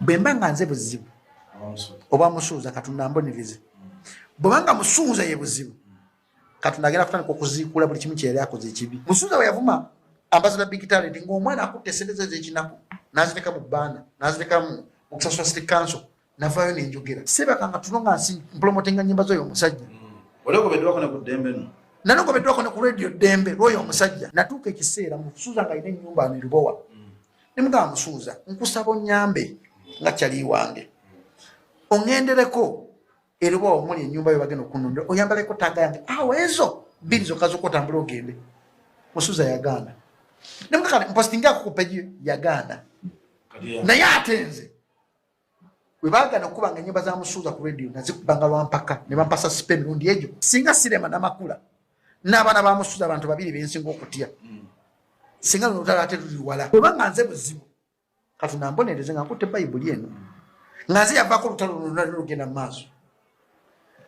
bwemba nga nze buzibu oba musuuza katonda ambonirize bwebanga musuuza ye buzibu katonda agenda kutandika okuziikula buli kimu kyeyali akoze ekibi musuuza bwe yavuma ambasada big talent ngaomwana akutte esente ze ezekinaku nazireka mu baana nazireka mu kusasula city council navayo nenjogera sebakanga tuno nga nsi mpulomotenga nyimba zoyo omusajja mm. nanogobeddwako ne ku radio ddembe lwoyo omusajja natuuka ekiseera musuuza nga alina enyumba nerubowa ne mugamba musuuza nkusaba onnyambe nga kyali wange oŋendereko eroba omuli ennyumba yo bagenda okunondera oyambaleko taaga yange awo ah, ezo bbiri zokka zokka otambula ogende musuuza yagaana ne mugamba mpositingi akukupeji yagaana naye ate nze bwe baagana okukuba nga ennyimba za musuuza ku rediyo nazikuba nga lwampaka ne bampasa sipe emirundi egyo singa sirema namakula n'abaana ba musuuza abantu babiri bensinga okutya mm. singa luno lutala ate luli wala obanga nze buzibu kati nambonereze nga nkutte bayibuli eno nga nze yavaako olutalo lulunalugenda mu maaso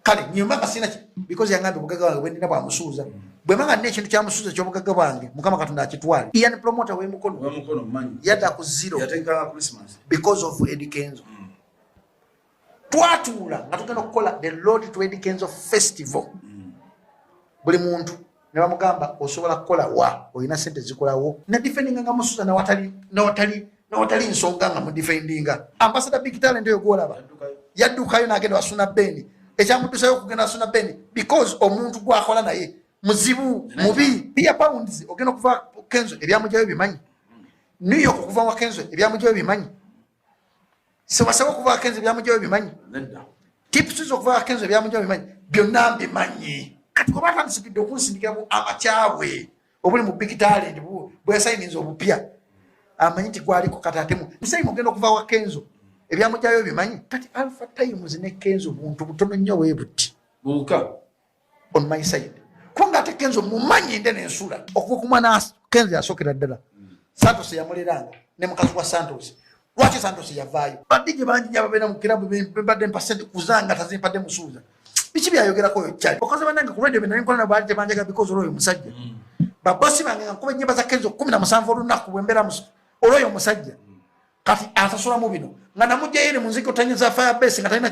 kale nyuma nga sina because yanga ndo bugaga wange bwendina bwa musuza bwe manga ne kintu kya musuza kyo bugaga wange mukama katonda akitwale ian promoter we mukono we mukono manyi yata ku zero yatenga christmas because of Eddie Kenzo mm. twatula nga tugenda okukola the Lord to Eddie Kenzo festival mm. buli muntu ne bamugamba osobola kukola wa olina sente zikolawo ne defendinga nga musuza nawatali nawatali nawatali nsonga nga mudefendinga ambasada big talent oyo gwolaba yaddukayo nagenda wasuna beni ekyamutusayo okugenda wasuna beni because omuntu gwakola naye muzibu mubi pia pounds ogenda okuva kenzo ebyamujayo bimanyi new york okuva wa kenzo ebyamujayo bimanyi sewasaba okuvaako enzo byamujayo bimanyi tips zokuvaako enzo byamujayo bimanyi byonna mbimanyi kati kuba atandisigidde okunsindikira ku amakyabwe obuli mu big talent bweyasayininza obupya amanyi nti gwaliko kati atemu musayini ogenda okuva wa kenzo ebyamujayo bimanyi kati alpha times ne kenzo buntu butono nnyo webuti buka on my side kunga ate kenzo mumanyi nde nensula okukuma na kenzo yasokera ddala santos yamuleranga ne mukazi wa santos lwaki santos yavaayo badigi bangi nyababeera mu kirabu bebadde mpasente kuzanga tazimpadde musuuza biki byayogerako oyo kyali okaze banange ku radio byenali nkola nabwali tebanjaga bikozi olwoyo omusajja mm. babosi bange nga nkuba enyimba za kenzo kumi na musanvu olunaku bwembeera olwoyo omusajja mm. kati asasulamu bino nga namujjayo eri munziki otanyiza fire base nga talina